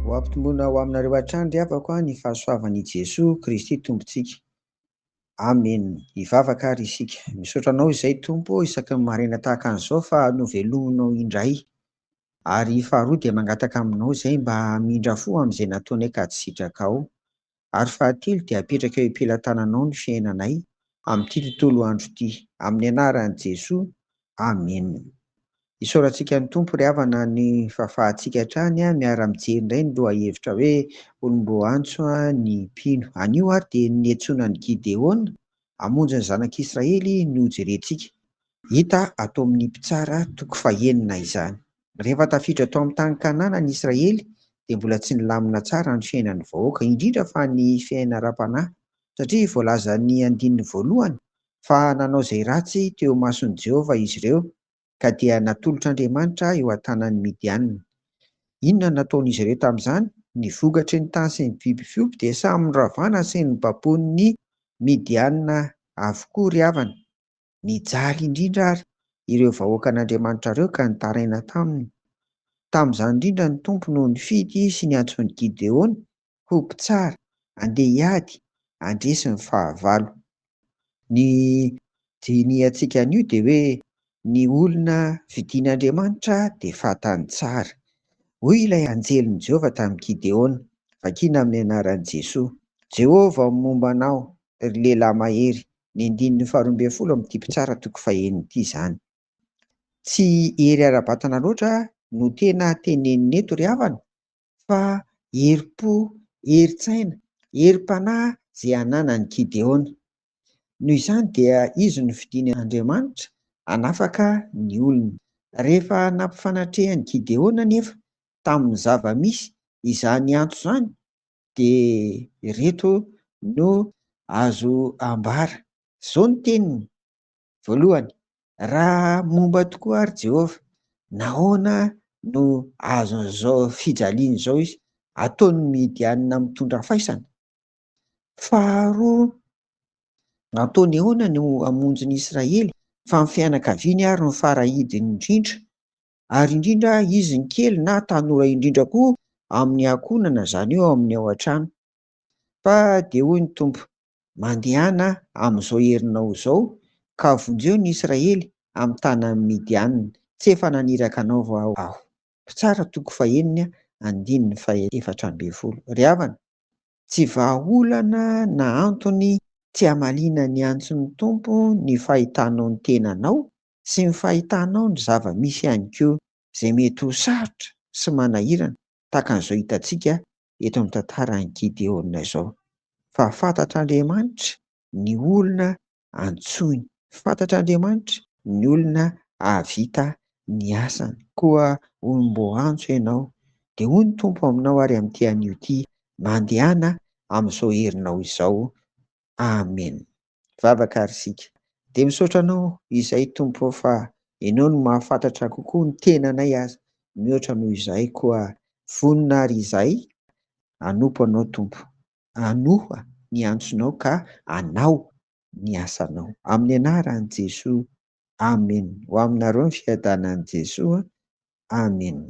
Ho ampitomboina ho aminareo hatrany ry havako a ny fahasoavan' i Jesoa Kristy Tompontsika. Amen. Hivavaka ary isika. Misaotra Anao izay Tompo ô isaky ny maraina tahaka an'izao fa novelominao indray. Ary faharoa dia mangataka aminao izay mba hamindra fo amin'izay nataonay ka tsy sitrakao. ary fahatelo dia apetraka eo am-pelatananao ny fiainanay amin'ity tontolo andro ity, amin'ny anaran'i Jesoa, amena. Isaorantsika ny Tompo ry havana ny fahafahantsika hatrany miara-mijery indray ny lohahevitra hoe olom-boantso ny mpino. Anio ary dia ny niantsoana an'i Gideona hamonjy ny zanak'Israely no hojerentsika. Hita ato amin' ny Mpitsara toko fahenina izany. Rehefa tafiditra tao amin'ny tany Kanana ny Israely, dia mbola tsy nilamina tsara ny fiainan'ny vahoaka, indrindra fa ny fiainana ara-panahy, satria voalazan'ny andininy voalohany fa nanao izay ratsy teo imason'i Jehovah izy ireo, ka dia natolotr' Andriamanitra eo an-tanan'ny Midianina. Inona no nataon'izy ireo tamin'izany? Ny vokatry ny tany sy ny biby fiompy dia samy noravana sy nobaboin'ny Midianina avokoa ry havana. Nijaly indrindra àry ireo vahoakan'Andriamanitra ireo ka nitaraina taminy. Tamin'izany indrindra ny Tompo no nifidy sy niantso an'i Gideona ho mpitsara handeha hiady handresy ny fahavalo. Ny dinihantsika anio dia hoe ny olona fidin'Andriamanitra dia fantany tsara. Hoy ilay anjelin'i Jehovah tamin'i Gideona, vakina amin'ny anaran'i Jesoa, Jehovah momba anao, ry lehilahy mahery, ny andininy faharoa ambin'ny folo amin'ity mpitsara toko faheno ity izany. Tsy hery ara-batana loatra no tena teneniny eto ry havana fa herim-po, herin-tsaina, herim-panahy izay ananan'i Gideona. Noho izany dia izy no fidiny Andriamanitra hanafaka ny olony. Rehefa nampifanatrehan'i Gideona anefa tamin'ny zava-misy izany antso izany dia ireto no azo ambara. Izao no teniny, Voalohany, raha momba tokoa àry Jehovah, nahoana no azon'izao fijaliana izao izy? Ataon'ny Midianina mitondra faisana. Faharoa, nataony ahoana no hamonjy ny Israely, fa ny fianakaviany àry no fara-hidiny indrindra? ary indrindra izy ny kely na tanora indrindra koa amin'ny ankohonana izany eo amin'ny ao an-trano. Fa dia hoy ny Tompo, Mandehana amin'izao herinao izao ka vonjeo ny Israely amin'ny tanan'i Midianina, tsy efa naniraka anao va Aho. Mpitsara toko fahenina andininy fahefatra ambin'ny folo. Ry havana, tsy vahaolana na antony tsy hamaliana ny antson'ny Tompo ny fahitanao ny tenanao sy ny fahitanao ny zava-misy ihany koa izay mety ho sarotra sy manahirana tahaka an'izao hitantsika eto amin'ny tantaran'i Gideona izao. Fa fantatr'Andriamanitra ny olona antsoiny, fantatr'Andriamanitra ny olona hahavita ny asany. Koa hono mbô antso ianao, dia hoy ny Tompo aminao ary amin'ity anio ity, Mandehana amin'izao herinao izao. Amena. Vavaka ary isika. Dia misaotra anao izay Tompo ô fa Ianao no mahafantatra kokoa ny tenanay aza mihoatra noho izahay koa vonona ary izahay hanompo Anao Tompo. Anoa ny antsonao ka anao ny asanao. Amin'ny anaran'i Jesoa Amen ho aminareo ny fiadanan'i Jesoa Amen.